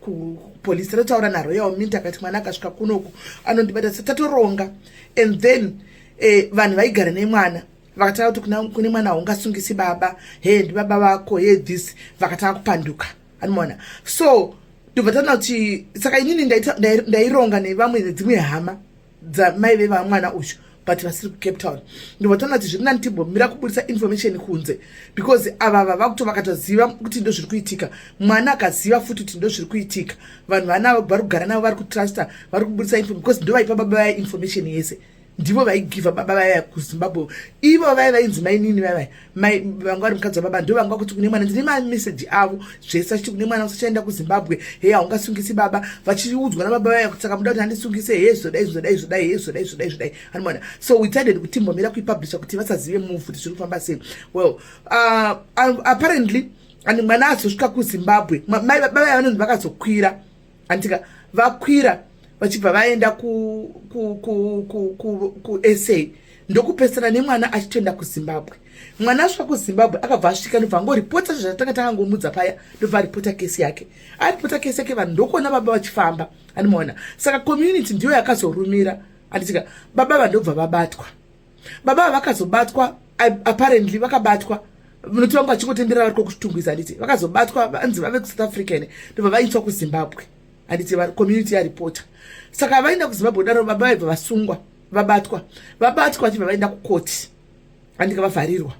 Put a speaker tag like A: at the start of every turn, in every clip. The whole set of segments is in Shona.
A: kupolisi rataura naroya waminta akati mwana akasvika kunoku anondibata sa tatoronga and then eh, vanhu vaigara nemwana vakatanga kuti kune mwana haungasungisi baba he ndibaba vako he this vakatanga kupanduka anomaona so ndobva tana kuti saka inini ndaironga nevamwe nedzimwe hama dzamai vevamwana uyu but vasiri kucape town ndovatanga kuti zviri nani timbomira kubudisa information kunze because ava vava kuto vakatoziva kuti ndo zviri kuitika mwana akaziva futi kuti ndo zviri kuitika vanhu vana vari kugara navo vari kutrusta vari kubudisa info because ndo vaipa baba vaya information yese ndivo vaigiva baba vaya kuzimbabwe ivo vaya vainzi mainini vaya vaya mai vanga vari mukadzi wababa ndo vanga kuti kune mwana ndine mameseji avo zvese achiti kune mwana usachaenda kuzimbabwe heye haungasungisi baba vachiudzwa nababa vaya kuti saka muda kuti handisungise heye zvodai zvodai zvodai heye zvodai zvodai zvodai anomona so we decided kuti mbomira kuipublisha kuti vasazive move kuti zviri kufamba sei well uh, apparently and mwana azosvika kuzimbabwe mai baba vanonzi vakazokwira andika vakwira vachibva vaenda kusa ndokupesana nemwana achitoenda kuzimbabwe mwana asvika kuzimbabwe akabva asvika ndobva angoripota zvatanga tangangomudza paya ndobva aripota kesi yake aripota kesi yake vanhu ndokuona baba vachifamba andimaona saka community ndiyo yakazorumira anditika baba vandobva vabatwa baba vakazobatwa apparently vakabatwa munoti vangu vachingotenderera variko kutungwiza handiti vakazobatwa vanzi vave kusouth africa ine ndobva vaitswa kuzimbabwe handiti community yaripota saka vaenda kuzimbabwe daro baba vaibva vasungwa vabatwa vabatwa vachibva vaenda kukoti andika vavharirwa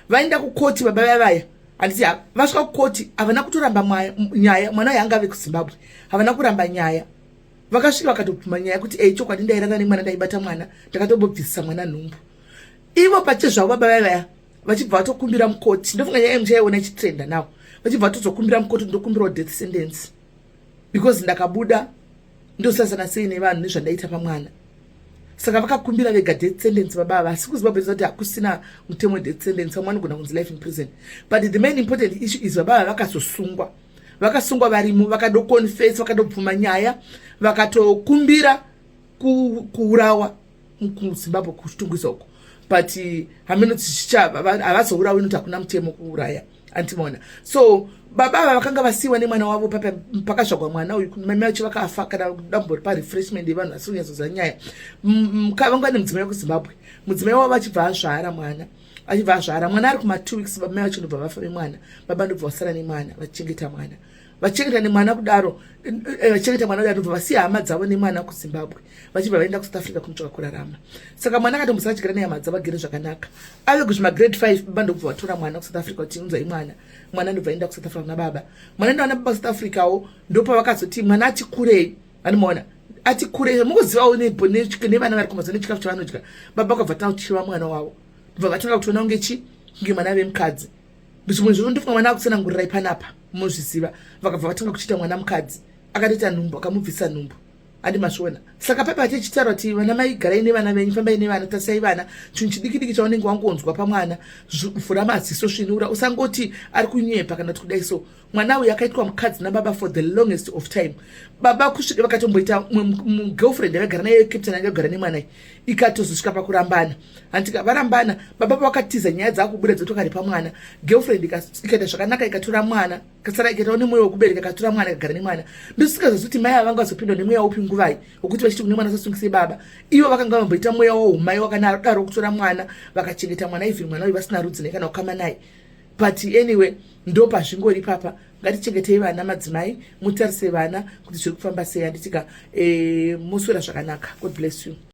A: vaenda kukoti baba vaya vaya handiti vasvika kukoti havana kutoramba nyaya mwana yaangave kuzimbabwe havana kuramba nyaya vakasvika vakatobvuma nyaya kuti ei chokwadi ndairara nemwana ndaibata mwana ndakatobobvisisa mwana nhumbu ivo pache zvavo baba vaya vaya vachibva vatokumbira mukoti ndofunga nyaya yemuchaiona ichitrenda now vachibva vatozokumbira mukoti ndokumbirawo death sentence because ndakabuda ndosasana sei nevanhu nezvandaita pamwana saka vakakumbira vega death sentence baba ava asi kuziva besa kuti hakusina mutemo death sentence vamwe vanogona kunzi life in prison but the main important issue is baba ava vakazosungwa so vakasungwa varimo vakadoconfes vakadobvuma nyaya vakatokumbira kuurawa kuzimbabwe kutungisa uko but hameno tichichava havazourawi noti hakuna mutemo kuuraya antimaona so baba ava vakanga vasiyiwa nemwana wavo pakazvagwa mwana uyu mame vacho vakafa kana dambo ripa refreshment yevanhu vasiri kunyatsoziva nyaya vanga vane mudzimai wekuzimbabwe mudzimai wavo vachibva azvara mwana achibva azvara mwana ari kuma two weeks baba mai vachinobva vafa vemwana baba ndobva vasara nemwana vachichengeta mwana vachengeta nemwana kudaro eh, eh, vachengeta mwana kudaro ndobva vasiya hama dzavo nemwana kuzimbabwe vachibva vaenda kusouth africa kunotsvaka kurarama saka mwana akatombosa vachigara nehama dzavo agere zvakanaka ave kuzvima grade five baba ndokubva vatora mwana kusouth africa kuti unzai mwana mwana ndobva aenda kusouth africa kuna baba mwana ndaona baba kusouth africawo ndopavakazoti mwana ati kurei vanimoona ati kure mukuzivawo nevana vari kumaza nechikafu chavanodya baba vakabva tanga kuchiva mwana wavo ndobva vatanga kutiona kunge chi kunge mwana vemukadzi zvimwe zvino ndofunga mwana akutsanangurirai panapa mozviziva vakabva vatanga kuchiita mwana mukadzi akatoita nhumbu akamubvisa nhumbu andi masvona saka papa ati chitaura kuti vana mai garai nevana venyu fambai nevana tasai vana chinhu chidikidiki chaunenge wangonzwa pamwana vhura maziso svinura usangoti ari kunyepa kana kuti kudai so mwana uyu akaitwa mukadzi nababa for the longest of time baba kusvika vakatomboita girlfriend yakagara naye captain anga kugara nemwanai ikatozosvika pakurambana hantika varambana baba pavakatiza nyaya dzakubuda dzotokari pamwana girlfriend ikaita zvakanaka ikatora mwana kasara ikaitawo nemweya wekubereka ikatora mwana ikagara nemwana ndosikazozi kuti mai avanga vazopindwa nemweya upi nguvai wekuti vachiti kune mwana sasungise baba ivo vakanga vamboita mweya woumai wakanadaro kutora mwana vakachengeta mwana even mwana uyu vasina rudzi naye kana kukama naye but anyway ndopazvingori papa ngatichengetei vana madzimai mutarise vana kuti zviri kufamba sei anditika e, eh, moswera zvakanaka god bless you